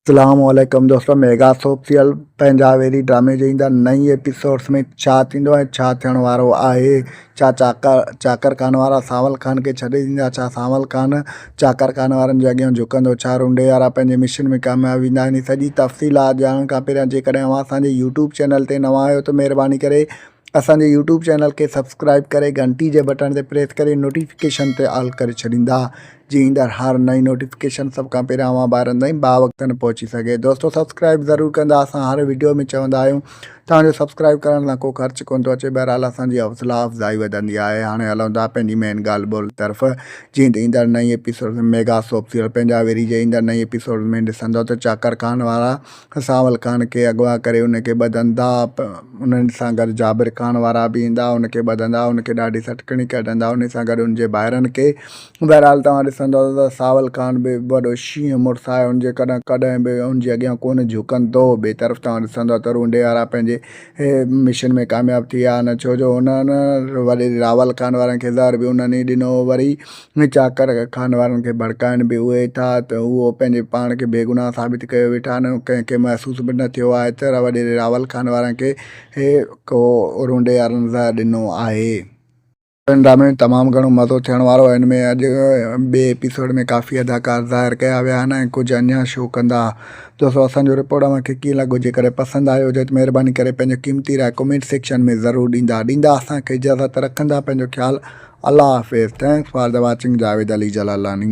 اسلام عليڪم دوستو ميگا سوپ سيريل پنهنجا ويري ڊرامي جي ايندا نئين ايپيسوڊس ۾ ڇا ٿيندو ۽ ڇا ٿيڻ وارو آهي ڇا چاڪر چاڪر خان وارا سانول خان کي ڇڏي ڏيندا ڇا سانول خان چاڪر خان وارن جي اڳيان جهڪندو ڇا رونڊي وارا پنهنجي مشن ۾ ڪامياب ويندا هن سڄي تفصيلات ڄاڻڻ کان پهريان جيڪڏهن اوهان اسان جي يوٽيوب چينل تي نوان آهيو ته مهرباني ڪري اسان جي يوٽيوب چينل کي سبسڪرائب ڪري گهنٽي جي بٽڻ تي پريس ڪري نوٽيفڪيشن تي آل ڪري ڇڏيندا جي ايندڙ هر نئين نوٽيفڪيشن سڀ کان پهريان اوهان ٻارن تائين باوقتن پهچي سگهي دوستو سبسڪرائب ضرور ڪندا اسان هر ويڊيو ۾ چوندا آهيون توهان جو سبسڪرائب ڪرڻ سان ڪو خرچ ڪون ٿو اچي بهرحال اسان جي حوصلا افزائي وڌندي آهي هاڻي هلون ٿا پنهنجي مين ڳالهه ٻولهه طرف جيئن ته ايندڙ نئين ايپيسوڊ ۾ ميگا سوپ سيريل پنهنجا ويري جي ايندڙ نئين ايپيسوڊ ۾ ڏسندو ته چاڪر خان وارا سانول خان کي اغوا ڪري ان کي ٻڌندا انهن سان گڏ جابر خان وارا به ايندا ان کي ٻڌندا ان کي ڏاڍي سٽڪڻي ڪڍندا ان سان گڏ ان جي ڀائرن کي بهرحال توهان ڏسندؤ ته ساول خان به وڏو شينهن مڙس آهي ان جيڪڏهن ڪڏهن به ان جي اڳيان ڪونه جهڪن دو ٻي طرف توهان ڏسندؤ ته رونڊي وارا پنهنجي مشن ۾ ڪامياب ٿي ويا نه ڇو جو انهن وڏي راول خان وارن کي زهر به انهن ئي ڏنو وري چاڪر خان وارن کي ڀڙڪائن به اهي ٿا ته اهو پنهنجي پاڻ کي بيگناهه ثابت ڪيو ويٺا آهن ڪنهن کي محسوس به نه ٿيو آهي ته وڏي راول خان وارن کي ڪو رونڊي وارن زهر ڏنو آهي. هن ڊرامي ۾ تمام گهڻو مزو ٿيڻ وارو آهي ان ۾ اڄ ٻئي ايپيسوڊ ۾ ڪافي اداڪار ظاهر ڪيا ويا آهن ۽ ڪجهه اڃان شو ڪندا دوستو اسان جو رپورٽ اوهان کي ڪيئن لڳو جيڪڏهن پسند آيو هجي ته مهرباني ڪري پنهنجو قيمتي راء ڪمينٽ سيڪشن ۾ ضرور ڏيندا ڏيندا اسان کي اجازت رکندا پنهنجو خيال الله حافظ thanks for the watching Javed Ali Jalalani.